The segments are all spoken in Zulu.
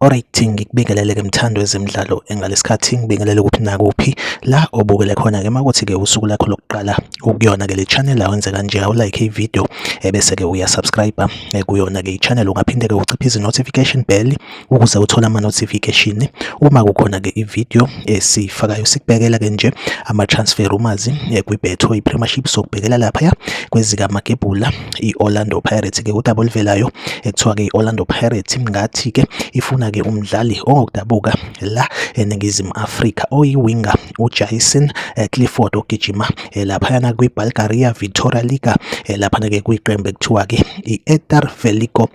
Alright ngikubingelele ke mthando wezemidlalo engalesikhathi ngibingelele kuphi nakuphi la obukele khona ke makuthi ke usuku lakho lokuqala ukuyona ke le channel awenze kanje awu like ivideo ebese ke uya subscribe eh, kuyona ke ichannel ungaphinde ke uciphe izi notification bell ukuze uthole ama notification uma kukhona ke ivideo esifakayo sikubhekela ke nje ama transfer rumors eh, kwi betho i premiership sokubhekela lapha ya kwezika magebhula i-Orlando Pirates ke udaba oluvelayo ekuthiwa ke i-Orlando Pirates ngathi ke ifuna ke umdlali ongokudabuka la eningizimu Afrika oyiwinger uJason eh, Clifford ogijima eh, laphayana kwi-Bulgaria Victoria Liga eh, laphana ke kwiqembu ekuthiwa ke i-Etar Veliko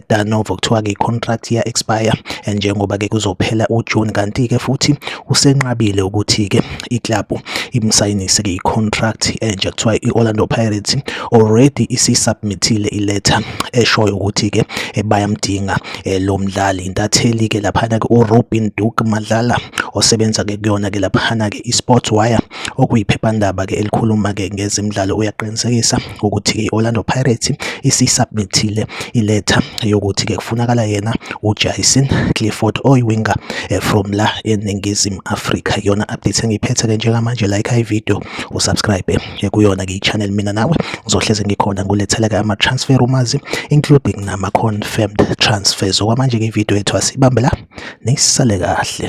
Tarnovo kuthiwa ke i-contract ya expire njengoba ke kuzophela uJune kanti ke futhi usenqabile ukuthi ke iklabhu imsayinise ke i-contract enje kuthiwa i-Orlando Pirates already isisubmithile iletha eshoyo ukuthi ke eh, bayamdinga eh, lo mdlali intatheli ke laphana ke uRobin Duke Madlala osebenza ke kuyona ke laphana ke iSports Wire okuyiphephandaba ke elikhuluma ke ngezimidlalo uyaqinisekisa ukuthi ke iOrlando Pirates isisubmithile iletha yokuthi ke kufunakala yena uJason Clifford oyiwinger eh, from la eNingizimu Afrika yona update engiphethe ke njengamanje like i video usubscribe kuyona ke i-channel mina nawe ngizohleze ngikhona ngulethela ke ama-transfer rumours including nama-confirmed transfers okwamanje ke ividiyo yethu asibambe la nisale kahle